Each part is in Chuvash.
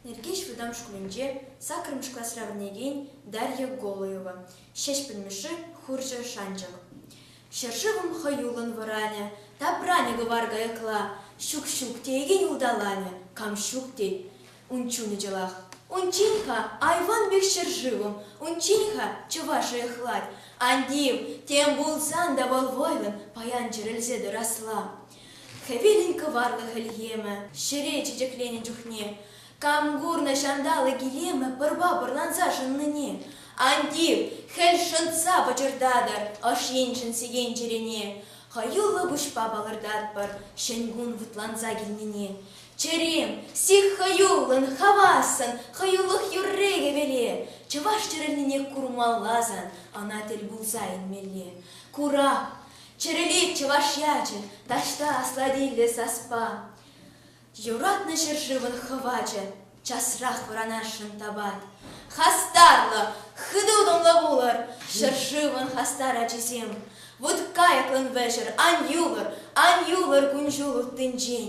Нӗркеҫ вӑтам шкулӗнче саккӑрмӗш класра вӗренекен Дарья Голуева, Ҫеҫпӗл Мишши хурҫӑ шанчӑк. Ҫӗршывӑм хӑюллӑн вӑранӗ, тапранӗ кӑвар каякла, ҫук-ҫук теекен улталанӗ, кам ҫук тет. Ун чунӗ чӑлах. Унччен-ха айван пек ҫӗршывӑм, унччен-ха чӑваш ӑйӑхлать. Ан тив, тем пулсан та вӑл вӑйлӑн паян чӗрӗлсе тӑрасла. Хӗвелӗн кӑварлӑ хӗлхемӗ ҫӗре чечекленӗ чухне, кам курнӑ ҫанталӑк илемӗ пӑрпа пӑрланса шӑннине? Ан тив, хӗл шӑнтса пӑчӑртатӑр ӑш енчен сиен чӗрене, хӑюллӑ пуҫпа палӑртатпӑр ҫӗн кун вӑтланса килнине. Чӗрем, сих хӑюллӑн, хавассӑн, хӑюлӑх юрри хӗвеле. Чӑваш чӗрӗлнине курмалла сан, ӑна тӗл пулса илмелле. Курак, чӗрӗлет чӑваш ячӗ, таҫта аслатиллӗ саспа. Юратнӑ ҫӗршывӑн хӑвачӗ, часрах вӑранасшӑн тапать. Хастарлӑ, хытӑ-утӑмлӑ пулӑр, ҫӗршывӑн хастар ачисем! Вут кайӑклӑн вӗҫӗр, ан юлӑр, ан юлӑр кун-ҫул уттинчен!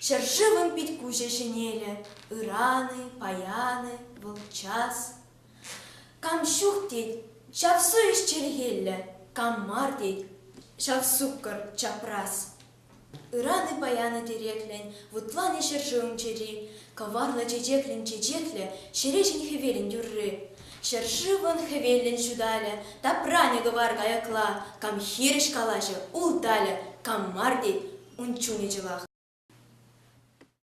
Ҫӗршывӑн пит-куҫӗ ҫӗнелӗ, Ыран-и, паян-и, вӑл час. Кам ҫук тет, ҫав совесть чӗлхеллӗ, Кам мар тет, ҫав суккӑр чапрас. Ыран-и, паян-и тереклӗн Вутланӗ ҫӗршывӑн чӗри, Кӑварлӑ чечеклӗн чечеклӗ, ҫереҫӗн хӗвелӗн тӳрри. Ҫӗршывӑн хӗвеллӗн ҫуталӗ, тапранӗ кӑвар каякла, кам хирӗҫ калаҫӗ, улталӗ, кам мар тет, ун чунӗ чӑвах.